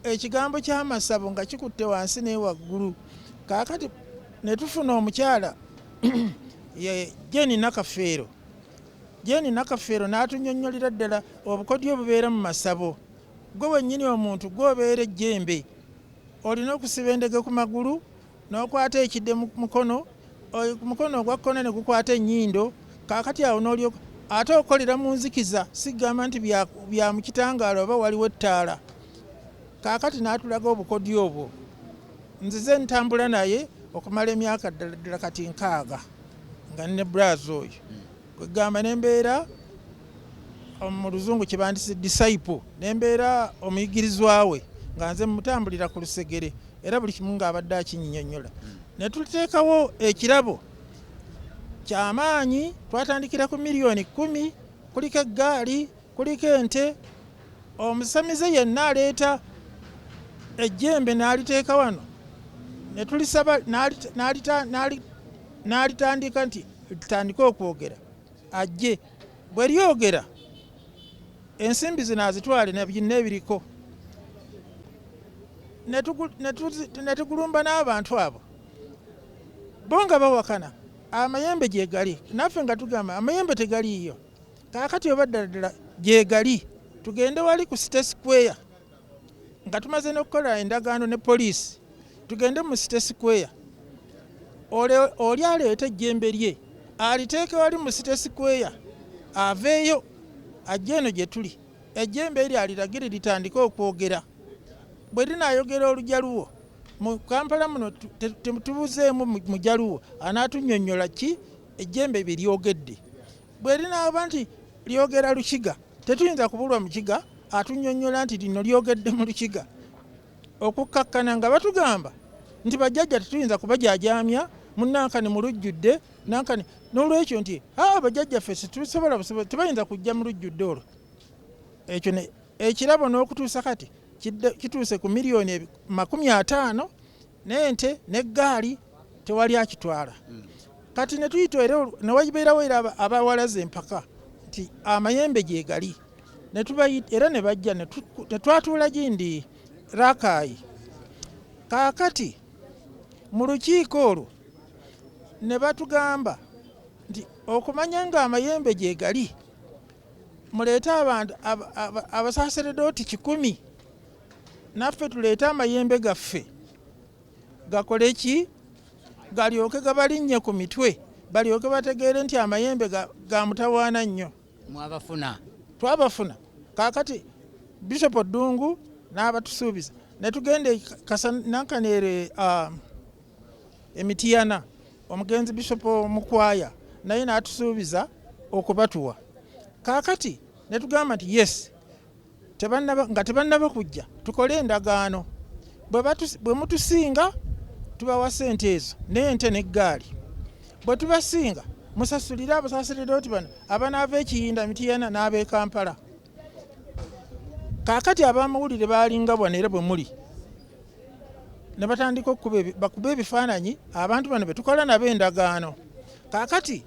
ekigambo ky'amasabo nga kikutte wansi naye waggulu kaakati ne tufuna omukyala jeni nakafeero jeni nakafeero n'atunyonnyolera ddala obukodyo obubeera mu masabo gwe wennyini omuntu gwobeera ejjembe olina okusiba endege ku magulu n'okwata ekide mu mukono omukono ogwa kkono ne gukwata ennyindo kaakati awo n'olyoka ate okolera mu nzikiza sigamba nti bya mu kitangaala oba waliwo ettaala kaakati n'atulaga obukodyo obwo nzize ntambula naye okumala emyaka ddala ddala kati nkaaga nga ne braz oyo Kwegamba nembeera mu luzungu kyebandise disciple nembeera omuyigirizwa we nga nze mutambulira ku lusegere era buli kimu ng'abadde akinyinyonyola ne tuteekawo ekirabo kyamaanyi twatandikira ku miliyoni kumi kuliko eggaali Kuliko ente, omusamize yenna aleeta ejjembe n'aliteeka wano ne tulisaba n'alitandika nti litandike okwogera ajje bwe lyogera ensimbi zino azitwale ne byonna ebiriko ne tugulumba n'abantu abo bo nga bawakana amayembe gye gali naffe nga tugamba amayembe tegaliiyo. kaakati oba ddala ddala gyegali tugende wali ku site square nga tumaze n'okukola endagaano ne poliisi tugende mu site square oli aleeta ejjembe lye aliteeke wali mu site square aveeyo ajja eno gye tuli ejjembe eryo aliragire litandike okwogera bwe linaayogera olugya luwo mu kampala muno tubuzeemu mujaluwo anaatunyonyola ki Ejjembe bye lyogedde bwe linaaba nti lyogera Lukiga, tetuyinza kubulwa Mukiga atunnyonnyola nti lino lyogedde mu Lukiga okukkakkana nga batugamba nti bajjajja tetuyinza kubajaajaamya mu Nankani mu lujjudde Nankani n'olwekyo nti aa ah, bajjajjaffe situsobola busobola tebayinza kujja mu lujjudde olwo. Ekyo ekirabo n'okutuusa kati kituuse ku miliyoni makumi ataano n'ente n'eggaali tewali akitwala hmm. kati ne tuyita era ne wabeerawo era abawalaza empaka nti amayembe gyegali era ne bajja ne twatuula gindi rakaayi kaakati mu lukiiko olwo ne batugamba nti okumanya ng'amayembe gyegali muleete abantu abasaseredooti kikumi naffe tuleete amayembe gaffe gakole ki galyoke gabalinnye ku mitwe balyoke bategeere nti amayembe ga mutawaana nnyo mwabafuna twabafuna kakati bishop ddungu n'abatusuubiza ne tugenda e nankaneere um, emitiyana omugenzi bishop mukwaya naye n'atusuubiza okubatuwa kakati ne tugamba nti yes nga tebannaba kujja tukole endagaano bwe mutusinga tubawa ssente ezo n'ente n'eggaali bwe tubasinga musasulire abasaserdoti bano abanaava ekiyinda mitiyana n'ab'e kampala kaakati abamawulire baalinga bwana era bwe muli ne batandika okukuba bakuba ebifaananyi abantu bano be tukola nabo endagaano kaakati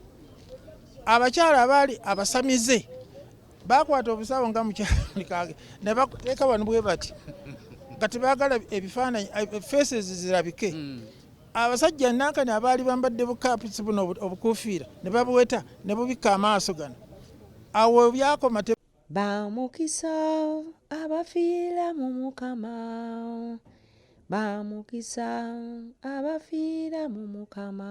abakyala abaali abasamize Baakwata obusawo nga mukyakage ne bakuteeka wano bwe bati nga tebaagala ebifaananyi eh, faces zirabike hmm. abasajja nankani abaali bambadde bukapusi buno obukuufiira ne babuweta ne bubikka amaaso gano awo byakoma bamukisa abafiira mu mukama bamukisa abafiira mu mukama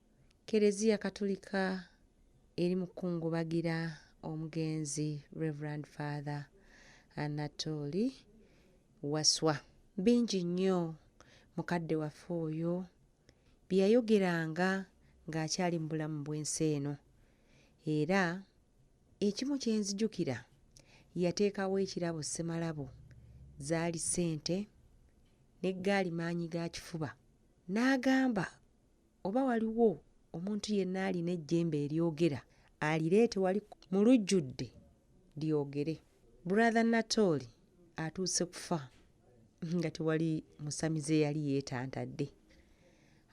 Keleziya Katulika eri mu kukungubagira omugenzi Rev. Father Anatooli Waswa. Bingi nnyo mukadde waffe oyo bye yayogeranga ng'akyali mu bulamu bw'ensi eno era ekimu kye nzijukira yateekawo ekirabo ssemalabo zaali ssente n'eggaali maanyi ga kifuba n'agamba oba waliwo omuntu yenna alina ejjembe eryogera alireete wali mu lujjudde lyogere. Brother Natooli atuuse kufa nga tewali musamize eyali yeetantadde.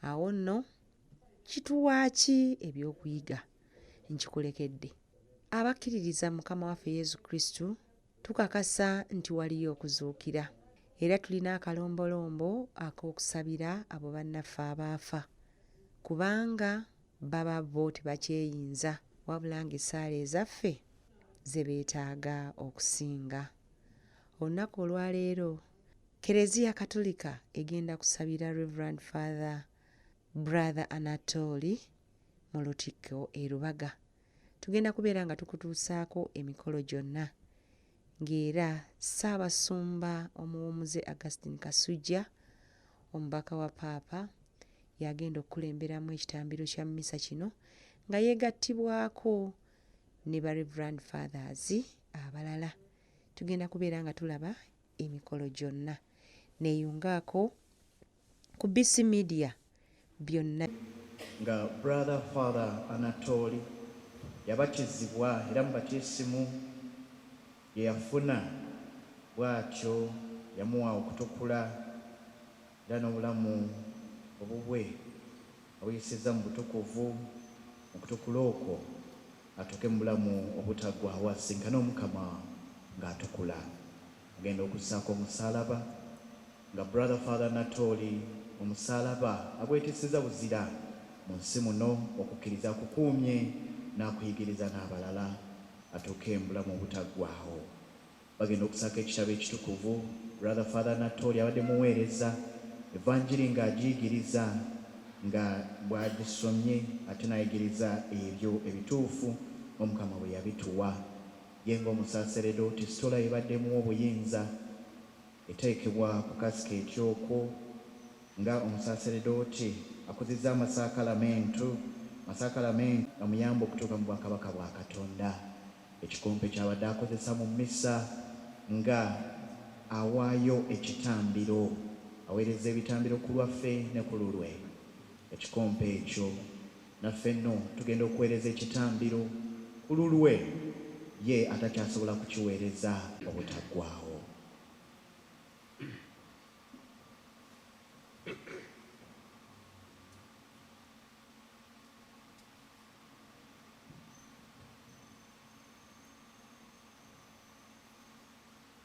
Awo nno kituwa ki ebyokuyiga? Nkikulekedde. Abakkiririza Mukama waffe Yesu Kristo Tukakasa nti waliyo okuzuukira, era tulina akalombolombo ak'okusabira abo bannaffe abaafa, kubanga baba bo tebakyeyinza, wabula ng'essaala ezaffe ze beetaaga okusinga. Olunaku olwaleero, Kereziya Katulika egenda kusabira Rev. Father Brother Anatoli mu lutikko e Lubaga. tugenda kubeera nga tukutuusaako emikolo gyonna ng'era ssaabasumba omuwumuze augustin kasujja omubaka wa paapa y'agenda okukulemberamu ekitambiro kya mmisa kino nga yeegattibwako ne ba reverand fathers abalala tugenda kubeera nga tulaba emikolo gyonna neeyungaako ku BC Media byonna. Nga Brother Father Anatooli yabatizibwa era mu batiisimu gye yafuna bw'atyo yamuwa okutukula era n'obulamu obubwe abuyisizza mu butukuvu mu kutukula okwo atuuke mu bulamu obutaggwaawo asisinkane Omukama ng'atukula. agenda okusaako omusalaba nga brother father Natooli omusalaba agweteseza buzira mu nsi muno okukkiriza kukuumye n'akuyigiriza n'abalala atuuke embulamu obutaggwaho bagenda okusaako ekitabo ekitukuvu brother father Natooli abadde muweereza evanjiri ng'agiyigiriza nga bwagisomye ate nayigiriza ebyo ebituufu omukama bwe yabituwa Ye ng'omusaseredooti, Sitola ebadde emuwa obuyinza, eteekebwa ku kasiki eky'okwo nga omusaseredooti, akuzizza amasakalamentu, amasakalamentu gamuyamba okutuuka mu bwakabaka bwa Katonda, ekikompe ky'abadde akozesa mu mmisa nga awaayo ekitambiro, aweereza ebitambiro ku lwaffe ne ku lulwe, ekikompe ekyo. Naffe nno tugenda okuweereza ekitambiro ku lulwe, ye atakyasobola kukiweereza obutaggwaawo.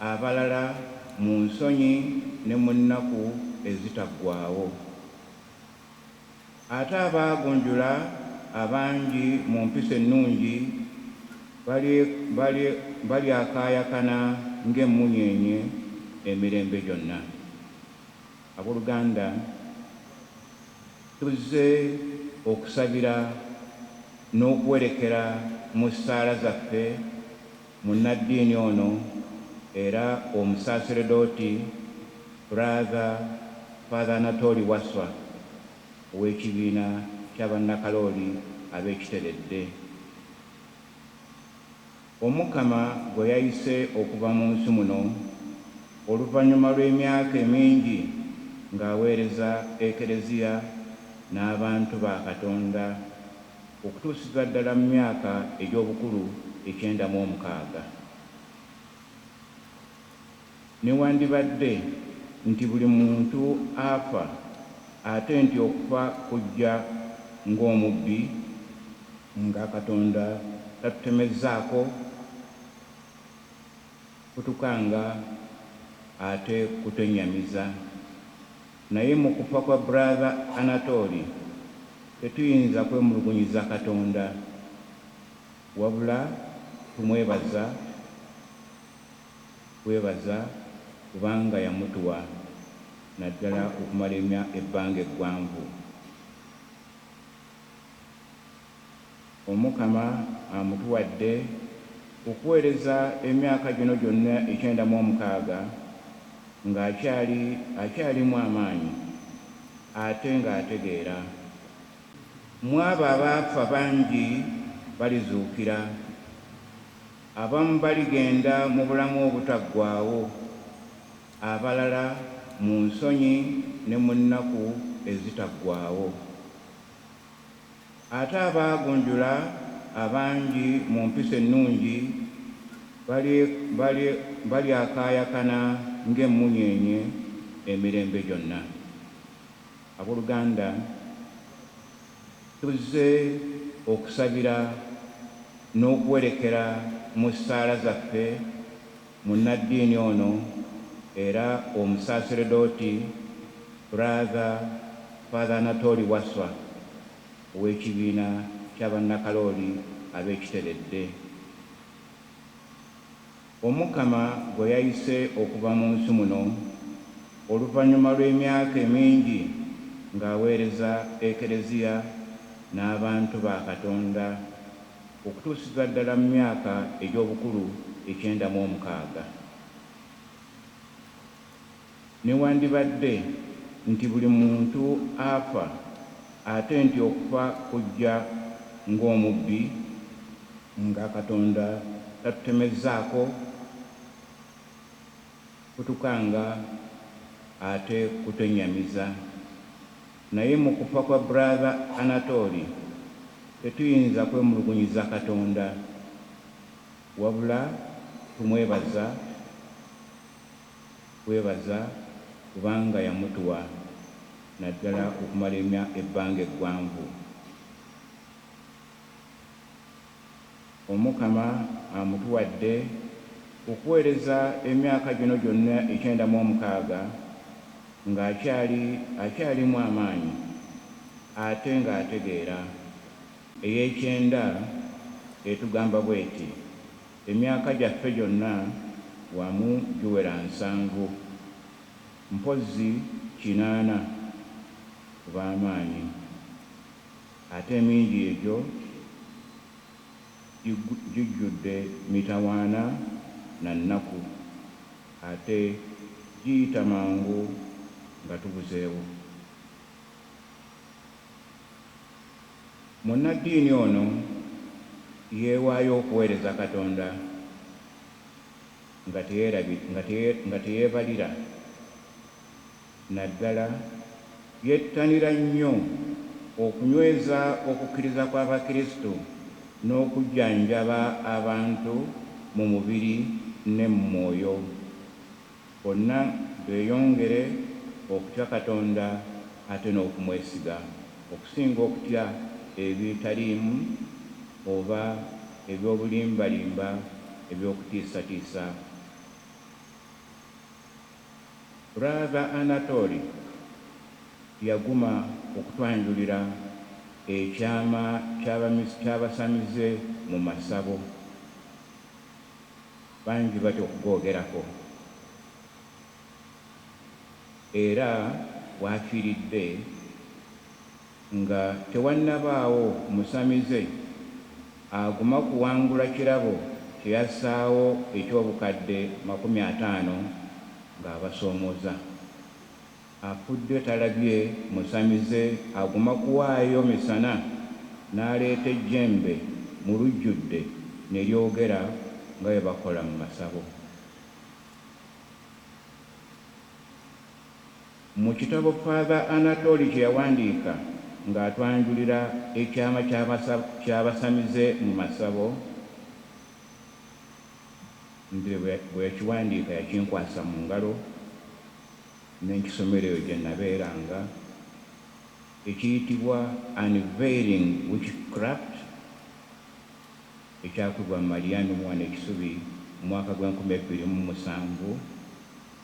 abalala mu nsonyi ne mu nnaku ezitaggwaawo. Ate abaagunjula abangi mu mpisa ennungi bali, bali, balyakaayakana ng'emmunyeenye emirembe gyonna. Ab'oluganda, tuzze okusabira n'okuwerekera mu ssaala zaffe. Munnaddiini ono era omusaaseredooti Brother Father Anatoli Wasswa ow'ekibiina kya Bannakalooli ab'e Kiteredde, Omukama gwe yayise okuva mu nsi muno oluvannyuma lw'emyaka emingi ng'aweereza Eklezia n'abantu ba Katonda okutuusizza ddala mu myaka egy'obukulu ekyenda mu omukaaga, newandibadde nti buli muntu afa, ate nti okufa kujja ng'omubbi, nga Katonda tatutemezzaako kutukanga ate kutennyamiza. Naye mu kufa kwa brother Anatooli tetuyinza kwemulugunyiza Katonda wabula tumwebaza bwebaza kubanga yamutuwa naddala okumala ebbanga eggwanvu. Omukama amutuwadde okuweereza emyaka gino gyonna ekyenda mu omukaaga ng'akyali akyalimu amaanyi ate ng'ategeera. Mu abo abaafa bangi balizuukira. Abamu baligenda mu bulamu obutaggwaawo, abalala mu nsonyi ne mu nnaku ezitaggwaawo. Ate abaagunjula abangi mu mpisa ennungi bali, bali, balyakaayakana ng'emmunyeenye emirembe gyonna. Ab'oluganda, tuzze okusabira n'okuwerekera mu ssaala zaffe. Munnaddiini ono era Omusaaserdooti Brother Father Anatoli Wasswa ow'ekibiina kya Bannakalooli ab'e Kiteredde, Omukama gwe yayise okuva mu nsi muno oluvannyuma lw'emyaka emingi ng'aweereza Eklezia n'abantu ba Katonda. okutuusizza ddala mu myaka egy'obukulu ekyenda mu omukaaga. Newandibadde nti buli muntu afa, ate nti okufa kujja ng'omubbi, nga Katonda tatutemezzaako kutukanga ate kutwennyamiza. Naye mu kufa kwa brother Anatooli tetuyinza kwemulugunyiza Katonda wabula tumwebaza bwebaza kubanga yamutuwa naddala okumala ebbanga eggwanvu. Omukama amutuwadde okuweereza emyaka gino gyonna ekyenda mu omukaaga nga akyali akyalimu amaanyi ate nga ategeera. Ey'ekyenda etugamba bw'eti, Emyaka gyaffe gyonna wamu giwera nsanvu, mpozzi kinaana, ku b'amaanyi. Ate emingi egyo gijjudde mitawaana na nnaku, ate giyita mangu nga tubuzeewo. Munnaddiini ono yeewaayo okuweereza Katonda nga teyeebalira Naddala, yettanira nnyo okunyweza okukkiriza kw'Abakristu n'okujjanjaba abantu mu mubiri ne mu mwoyo, bonna beeyongere okutya Katonda ate n'okumwesiga, okusinga okutya ebitaliimu oba eby'obulimbalimba eby'okutiisatiisa. Brother Anatooli yaguma okutwanjulira ekyama kyabasamize mu masabo bangi batya okugogerako era wafiridde Nga tewannabaawo musamize aguma kuwangula kirabo kye yassaawo eky'obukadde makumi ataano ng'abasoomooza. Afudde talabye musamize aguma kuwaayo misana n'aleeta ejjembe mu lujjudde ne lyogera nga bwe bakola mu masabo. Mu kitabo Father Anatoly kye yawandiika ng'atwanjulira ekyama ky'abasamize mu masabo, nze bwe yakiwandiika yakinkwasa mu ngalo ne nkisomera eyo gye nabeeranga, ekiyitibwa Unveiling Witchcraft ekyakubibwa Marianne Muwano e Kisubi mu mwaka gw'enkumi ebbiri mu musanvu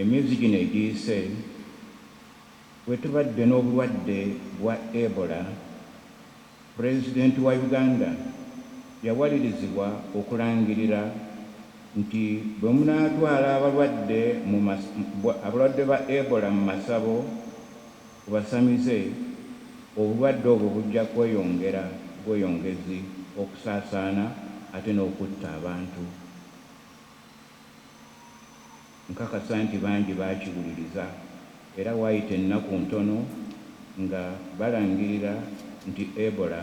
Emyezi gino egiyise, bwe tubadde n'obulwadde bwa Ebola, Pulezidenti wa Uganda yawalirizibwa okulangirira nti bwe munaatwala abalwadde mu abalwadde ba Ebola mu masabo ku basamize, obulwadde obwo bujja kweyongera bweyongezi okusaasaana ate n'okutta abantu. Nkakasa nti bangi baakiwuliriza, era waayita ennaku ntono nga balangirira nti Ebola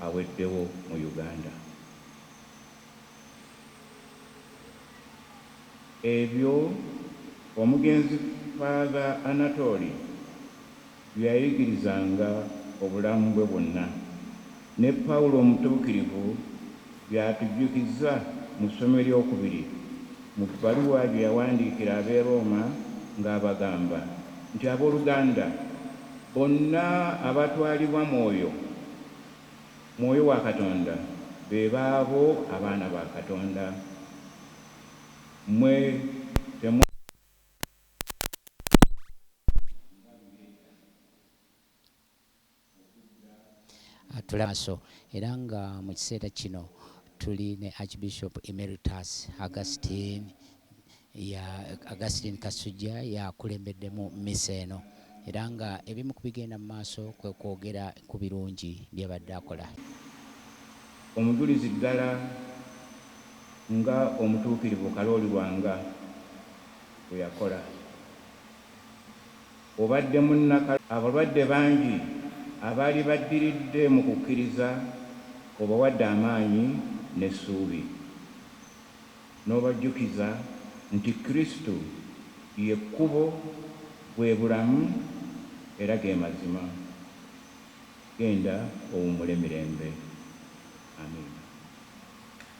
aweddewo mu Uganda. Ebyo omugenzi Father Anatoli bye yayigirizanga obulamu bwe bwonna, ne Pawulo omutuukirivu by'atujjukiza mu ssomo ery'okubiri mu bbaluwa gye yawandiikira ab'e Rooma ng'abagamba nti, Abooluganda, bonna abatwalibwa Mwoyo, Mwoyo wa Katonda, be baabo abaana ba Katonda. Mmwe temwali. atula maso era nga mu kiseera kino tuli ne Archbishop Emeritus Augustine ya Augustine Kasujja yakulembeddemu mmisa eno era nga ebimu ku bigenda mu maaso kwe kwogera ku birungi by'abadde akola. Omujulizi ddala nga omutuukirivu Kalooli Lwanga bwe yakola. Obadde munnaka. Abalwadde bangi abaali baddiridde mu kukkiriza obawadde amaanyi n'essuubi, n'obajjukiza nti Kristo ye kkubo, bwe bulamu, era ge mazima. Genda owummule mirembe. Amiina.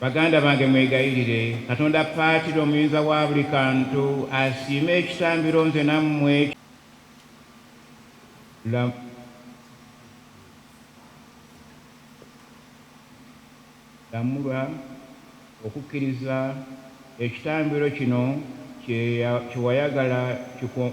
Baganda bange mwegayirire Katonda Patira omuyinza wa buli kantu asiime ekitambiro nze nammwe la lamulwa okukkiriza ekitambiro kino kye wayagala kiko.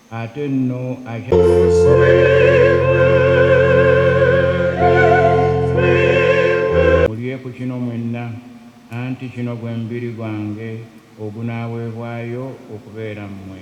Ate nno mulye ku kino mwenna, anti kino gwe mubiri gwange ogunaaweebwayo okubeera mmwe.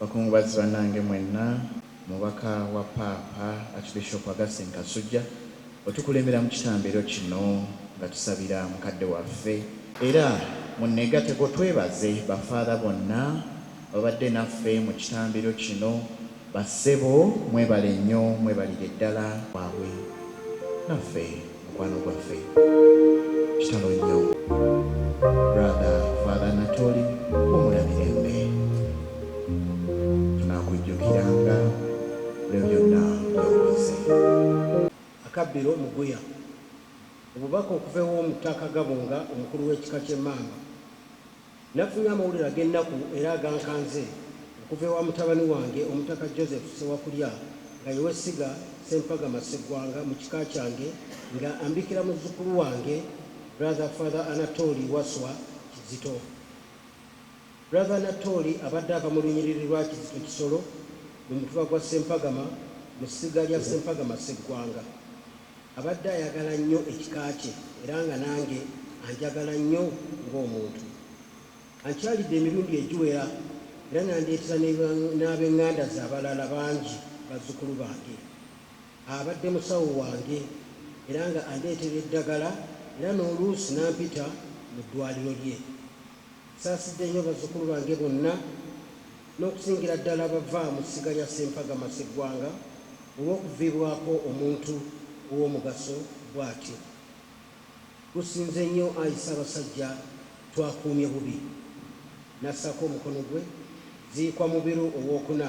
Bakungubazi banange mwenna, Omubaka wa Paapa Archbishop Augustine Kasujja otukulembera mu kitambiro kino nga tusabira mukadde waffe, era munnegateko twebaze ba Father bonna ababadde naffe mu kitambiro kino Ba ssebo mwebale nnyo mwebalire ddala waabwe naffe mukwano gwaffe kitalo nnyo brother father Natoli wumula mirembe tunakujjukiranga buli byonna byokoze. Akabbiro Muguya. Obubaka okuva ew'Omutaka Gabunga omukulu w'ekika ky'Emmamba Nafunye amawulire ag'ennaku era agankanze okuva ewa mutabani wange Omutaka Joseph Ssewakulya nga ye w'essiga Ssempagama Sseggwanga mu kika kyange nga ambikira muzzukulu wange Brother Father Anatooli Wasswa Kizito. Brother Anatooli abadde ava mu lunyiriri lwa Kizito Kisolo mu mutuba gwa Ssempagama mu ssiga lya Ssempagama Sseggwanga. Abadde ayagala nnyo ekika kye era nga nange anjagala nnyo ng'omuntu. Ankyalidde emirundi egiwera era n'andeetera n'abeng'anda ze abalala bangi bazzukulu bange. Abadde musawo wange era nga andeetera eddagala era n'oluusi n'ampita mu ddwaaliro lye. Nsaasidde nnyo bazzukulu bange bonna n'okusingira ddala abava mu ssiga lya Ssempaga Maseggwanga olw'okuviibwako omuntu ow'omugaso bw'atyo. Gusinze nnyo ayi Ssabasajja twakuumye bubi. N'assaako omukono gwe. Ziikwa Mubiru ow'okuna.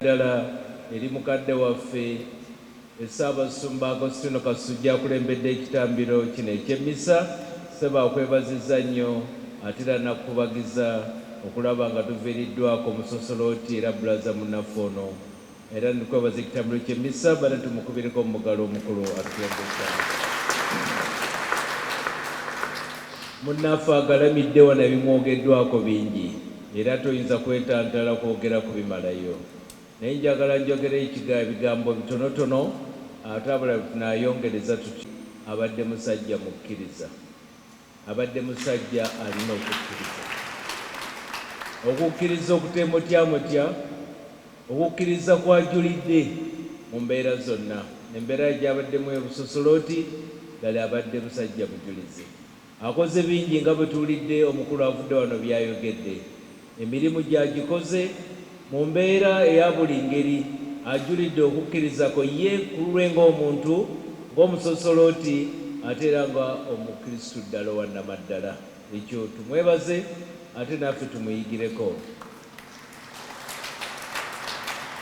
Eddagala eri mukadde waffe Ssaabasumba Agostino Kasujja akulembedde ekitambiro kino eky'emmisa. Ssebo akwebazizza nnyo ate era nakukubagiza okulaba nga tuviiriddwako Musosoloti era Bbulaza munnaffe ono Era ndikwebaza ekitambiro kye missa bana tumukubireko omugalo omukulu atuyambisa. Munnaffe agalamidde wano ebimwogeddwako bingi era toyinza kwetantala kwogera kubimalayo naye njagala njogere ebigambo bitonotono ate abalala bwe tunaayongereza tutyo. Abadde musajja mukkiriza. Abadde musajja alina okukkiriza. Okukkiriza okuteemotyamotya, okukkiriza kw'ajulidde mu mbeera zonna. Embeera ye gy'abaddemu e Busosolooti, ddala abadde musajja mujulizi. Akoze bingi nga bwe tuwulidde omukulu avudde wano by'ayogedde. Emirimu gye agikoze mu mbeera eya buli ngeri. Ajulidde okukkiriza kwe ye ku lulwe ng'omuntu, ng'Omusosolooti ate era nga Omukristu ddala owa nnamaddala. Ekyo tumwebaze ate naffe tumuyigireko.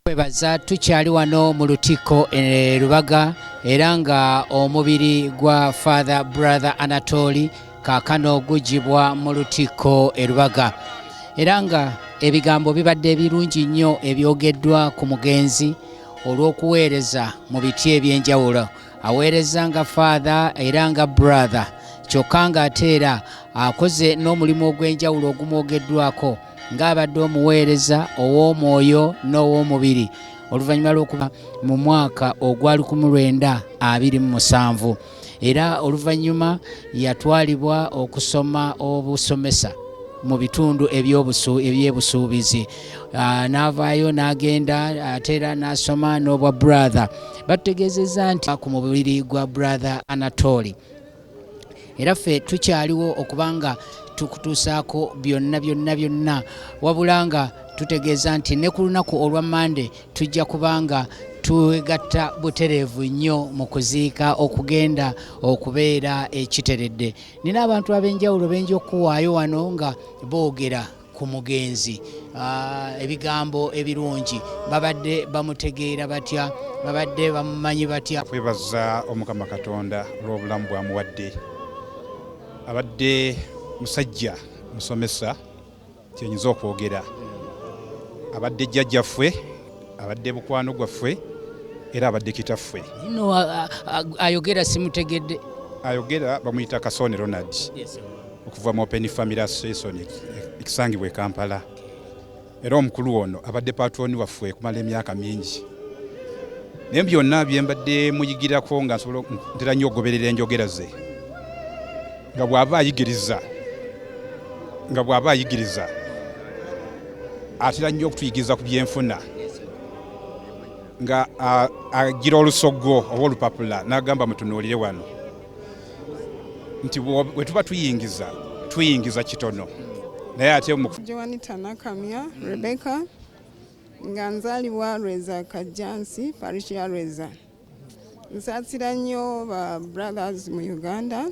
kwebaza tukyali wano mu lutikko e Lubaga era nga omubiri gwa Father Brother Anatoli kaakano gugibwa mu lutikko e Lubaga era nga ebigambo bibadde ebirungi nnyo ebyogeddwa ku mugenzi olw'okuweereza mu biti eby'enjawulo aweereza nga Father era nga Brother kyokka ng'ate era akoze n'omulimu ogw'enjawulo ogumwogeddwako ng'abadde omuweereza ow'omwoyo n'ow'omubiri oluvannyuma lw'okuba mu mwaka ogwali ku mulwenda abiri mu musanvu era oluvannyuma yatwalibwa okusoma obusomesa mu bitundu ebyebusuubizi ah, n'avaayo n'agenda ate era n'asoma n'obwa brother batutegeezezza nti ku mubiri gwa brother anatoli era ffe tukyaliwo okuba nga tukutuusaako byonna byonna byonna wabula nga tutegeeza nti ne ku lunaku olwa mande tujja kuba nga twegatta butereevu nnyo mu kuziika okugenda okubeera ekiteredde nina abantu ab'enjawulo benja okuwaayo wano nga boogera ku mugenzi ah, ebigambo ebirungi babadde bamutegeera batya babadde bamumanyi batya kwebaza omukama katonda olw'obulamu bwamuwadde abadde musajja musomesa kyenyinza okwogera abadde jjajjaffe abadde mukwano gwaffe era abadde kitaffe no ayogera simutegedde ayogera bamuyita kasone ronald okuva mu open family association ekisangibwa ekampala era omukulu ono abadde patroni waffe okumala emyaka mingi naye byonna byembadde muyigirako nga ntera nnyo okugoberera enjogera ze nga bw'aba ayigiriza nga bw'aba ayigiriza atera nnyo okutuyigiriza ku byenfuna nga agira olusoggo oba olupapula n'agamba mutunuulire wano nti bwe tuba tuyingiza tuyingiza kitono naye ate joanita nakamya rebecca nga nzaalibwa lweza kajjansi parish ya lweza Nsasira nnyo ba brothers mu Uganda.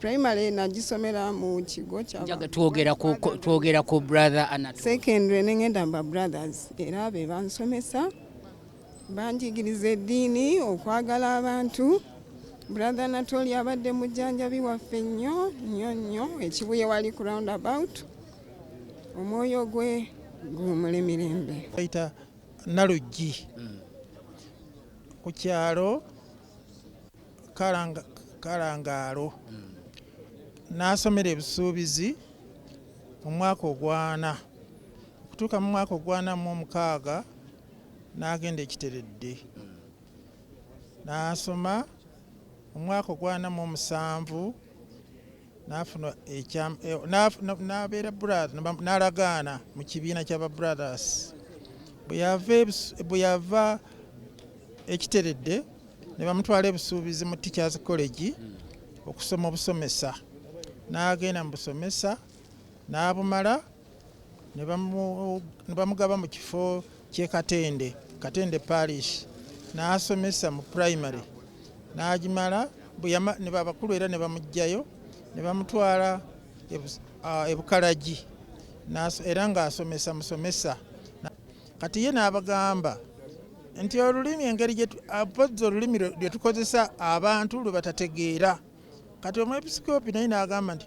Primary nagisomera mu kigo kyatwogera ku brother Anatole. Secondary ne ngenda ba brothers era be bansomesa banjigiriza eddiini okwagala abantu brother natoli abadde mujjanjabi waffe nnyo nnyo nnyo ekibuye wali ku round about omwoyo gwe guwumule mirembe Naluggi mm. ku kyalo Kalangaalo mm. n'asomera ebisuubizi mu mwaka ogwana okutuuka mu mwaka ogwana mu omukaaga n'agenda ekiteredde mm. n'asoma omwaka ogwana mu omusanvu nafuna ekya nabeera brother nalagaana mu kibiina kyaba brothers bwe yava ekiteredde ne bamutwala ebusuubizi mu teachers college okusoma obusomesa n'agenda mu busomesa n'abumala ne bamugaba mu kifo ky'e Katende, Katende Parish, n'asomesa mu primary n'agimala abakulu era ne bamuggyayo ne bamutwala e Bukalagi era ng'asomesa musomesa. Kati ye n'abagamba nti olulimi engeri mpozzi olulimi lwe tukozesa abantu lwe batategeera. Kati omwepisikoopi naye n'agamba nti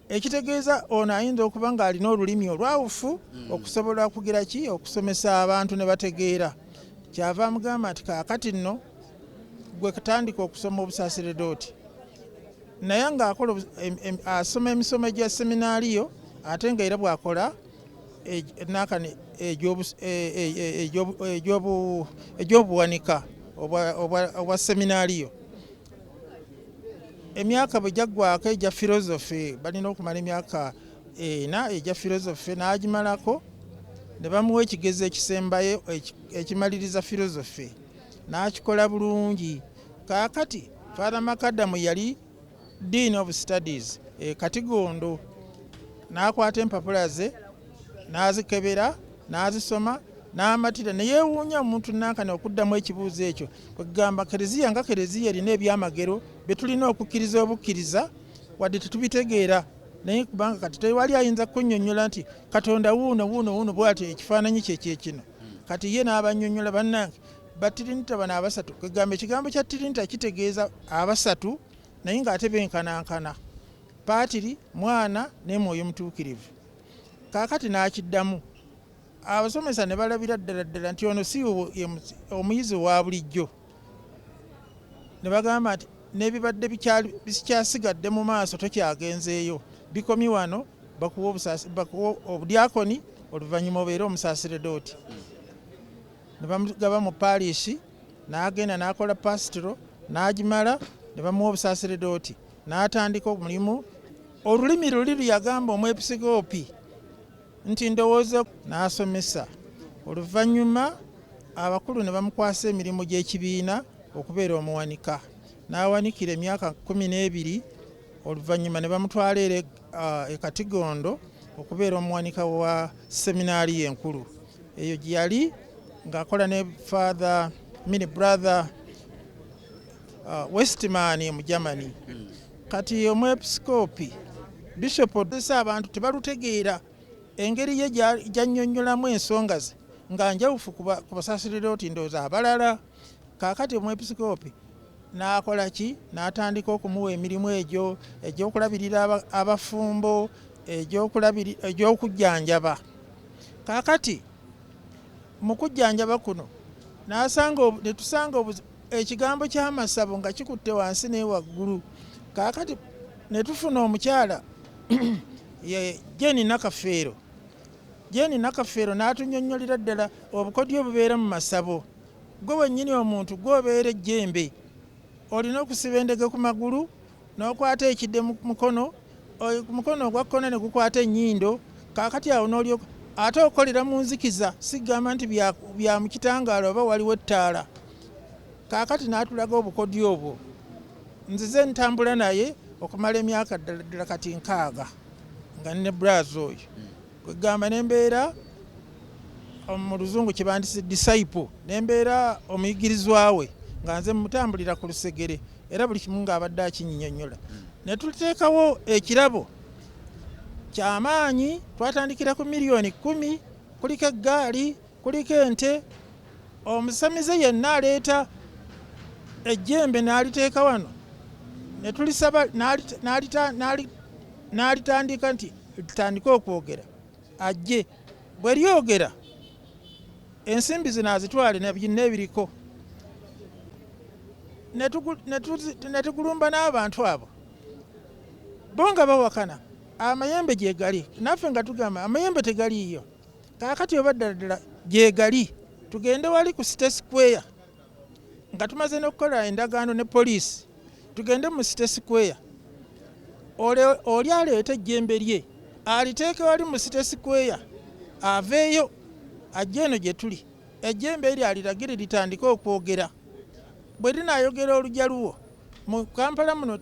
ekitegeeza ono ayinza okuba ng'alina olulimi olwawufu hmm. okusobola okugira ki okusomesa abantu ne bategeera kyava amugamba nti kaakati nno gwe kutandika okusoma obusaseredooti naye ng'akola asoma emisomo egya seminaaliyo ate nga era bw'akola e, nakani e, e, egy'obuwanika obwa seminaaliyo emyaka bwe gyaggwako egya filozofe balina okumala emyaka ena egya filozofe n'agimalako ne bamuwa ekigezo ekisembayo ekimaliriza filozofe n'akikola bulungi kaakati faatha makadamu yali dean of studies e katigondo n'akwata empapula ze n'azikebera n'azisoma n'amatira ne yeewuunya omuntu nankana okuddamu ekibuuzo ekyo kwegamba kereziya nga kereziya erina ebyamagero bye tulina okukkiriza obukkiriza wadde tetubitegeera naye kubanga kati tewali ayinza kunyonyola nti katonda wuuno wuuno wuuno bwatyo ekifaananyi kyekyekino kati ye n'abanyonyola bannange batirinita bano abasatu kwegamba ekigambo kya tirinita kitegeeza abasatu naye ng'ate benkanankana paatiri mwana n'emwoyo mutuukirivu Kaakati n'akiddamu, abasomesa ne balabira ddala ddala nti ono si ye omuyizi owa bulijjo, ne bagamba nti n'ebibadde bikyasigadde mu maaso tokyagenzeeyo, bikomye wano, bakuwe obudyakoni oluvannyuma obeere omusaserdooti. Ne bamugaba mu paalishi, n'agenda n'akola paasitiro n'agimala ne bamuwa obusaserdooti. N'atandika omulimu. Olulimi luli lwe yagamba omwepisikoopi nti ndowooza n'asomesa. Oluvannyuma abakulu ne bamukwasa emirimu gy'ekibiina okubeera omuwanika. N'awanikira emyaka kkumi n'ebiri oluvannyuma ne bamutwala era e Katigondo okubeera omuwanika wa seminaaliyo enkulu. Eyo gye yali ng'akola ne Father, I mean brother, uh, westman mu germany hmm. kati omwepisikoopi bishop odesa abantu tebalutegeera engeri ye gyanyonyolamu ensonga ze nga njawufu ku basasirira oti ndooza abalala kakati omwepisikoopi n'akola ki n'atandika okumuwa emirimu egyo egyokulabirira abafumbo egyokujjanjaba kakati mu kujjanjaba kuno netusanga ekigambo ky'amasabo nga kikutte wansi naye waggulu kaakati ne tufuna omukyala jeni nakafeero jeni nakafeero n'atunyonnyolera ddala obukodyo obubeera mu masabo gwe wennyini omuntu gwobeera ejjembe olina okusiba endege ku magulu n'okwata ekide mu mukono oyo ku mukono ogwa kkono ne gukwata ennyindo kaakati awo n'olyoka ate okolera mu nzikiza sigamba nti bya, bya mu kitangaala oba waliwo ettaala kaakati n'atulaga obukodyo obwo nzize ntambula naye okumala emyaka ddala ddala kati nkaaga nga ne braazi oyo Kwegamba nembeera mu luzungu kyebandise disciple nembeera omuyigirizwa we nga nze mutambulira ku lusegere era buli kimu ng'abadde akinyinyonyola ne tuteekawo ekirabo kyamaanyi twatandikira ku miliyoni kumi kuliko eggaali Kuliko ente, omusamize yenna aleeta ejjembe n'aliteeka wano ne tulisaba n'alitandika nti litandike okwogera ajje bwe lyogera ensimbi zino azitwale ne byonna ebiriko ne tugulumba n'abantu abo bo nga bawakana amayembe gye gali naffe nga tugamba amayembe tegaliiyo. kaakati oba ddala ddala gyegali tugende wali ku site square nga tumaze n'okukola endagaano ne poliisi tugende mu site square oli aleeta ejjembe lye aliteeke wali mu site square aveeyo ajja eno gye tuli ejjembe eryo aliragire litandike okwogera bwe linaayogera olugya luwo mu kampala muno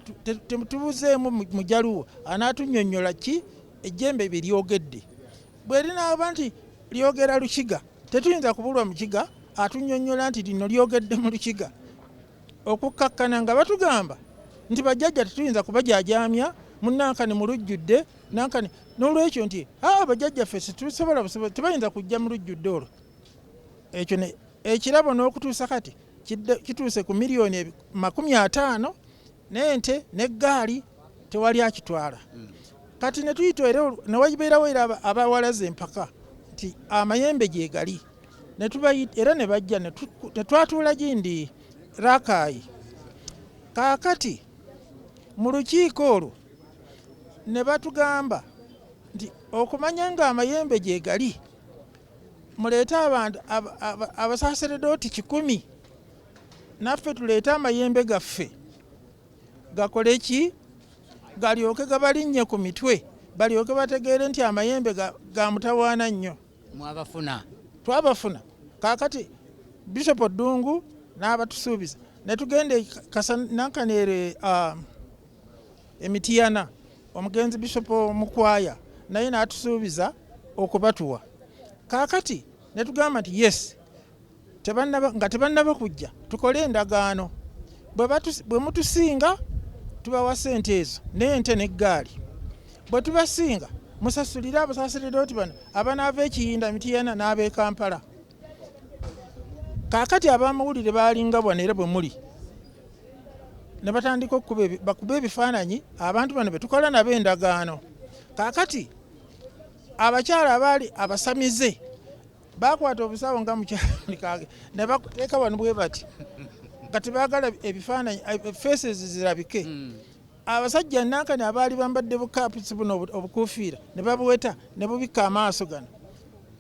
tetubuzeemu mujaluwo anaatunyonyola ki Ejjembe bye lyogedde bwe linaaba nti lyogera Lukiga, tetuyinza kubulwa Mukiga atunnyonnyola nti lino lyogedde mu Lukiga okukkakkana nga batugamba nti bajjajja tetuyinza kubajaajaamya mu Nankani mu lujjudde Nankani n'olwekyo nti aa bajjajjaffe situsobola busobozi tebayinza kujja mu lujjudde olwo ekyo ekirabo n'okutuusa kati kituuse ku miliyoni makumi ataano n'ente n'eggaali tewali akitwala mm. kati ne tuyita era ne wabeerawo era abawalaza empaka nti amayembe gyegali era ne bajja ne twatuula gindi rakaayi kaakati mu lukiiko olwo ne batugamba nti okumanya nga amayembe gyegali muleete abantu abasaseredooti kikumi naffe tuleete amayembe gaffe gakole ki galyoke gabalinnye ku mitwe balyoke bategeere nti amayembe ga, ga mutawaana nnyo mwabafuna twabafuna kakati bishop ddungu n'abatusuubiza ne tugenda e Kasa- nankaneere ah, emitiyana omugenzi bishop mukwaya naye n'atusuubiza okubatuwa kakati ne tugamba nti yes nga tebannaba kujja tukole endagaano bwe mutusinga tubawa sente ezo n'ente n'eggaali bwe tubasinga musasulire abasaserdoti bano abanaava ekiyinda mitiyana n'ab'e kampala kaakati abamawulire baalinga bwana era bwe muli ne batandika okubakuba ebifaananyi abantu bano be tukola nabo endagaano kaakati abakyala abaali abasamize Baakwata obusawo nga mukyalikaage ne bakuteeka wano bwe bati kati baagala ebifaananyi eh, faces zirabike hmm. abasajja nankani abaali bambadde bukapusi buno obukuufiira ne babuweta ne bubikka amaaso gano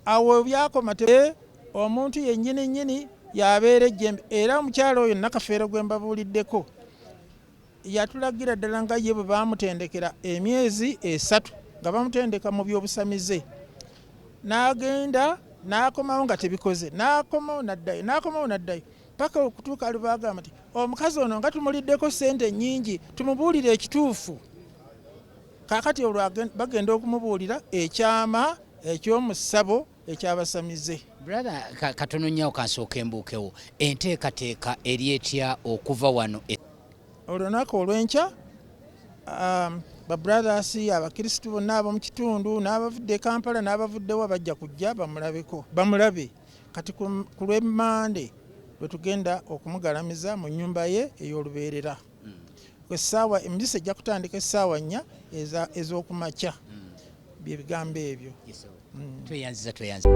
awo byakoma eh, omuntu yennyini nnyini yabeera ejjembe era omukyalo oyo nakafeero gwe mbabuuliddeko Yatulagira ddala nga ye bwe baamutendekera emyezi esatu nga bamutendeka mu by'obusamize n'agenda n'akomawo nga tebikoze n'akomawo n'addayo n'akomawo n'addayo paka okutuuka ali baagamba nti omukazi ono nga tumuliddeko ssente ennyingi tumubuulire ekituufu kaakati olwo bagenda okumubuulira ekyama eky'omu ssabo ekyabasamize brother katono nyawo kansooka embuukewo enteekateeka eri etya okuva wano e- olunaku olwenkya um, babrothers abakristu bonna ab'omu kitundu n'abavudde e kampala n'abavuddewa bajja kujja bamulabeko bamulabe kati ku lwemande lwe tugenda okumugalamiza mu nnyumba ye ey'olubeerera essaawa emizisa ejja kutandika essaawa nnya ez'okumakya bye bigambo ebyo mm. tweyanziza tweyanziza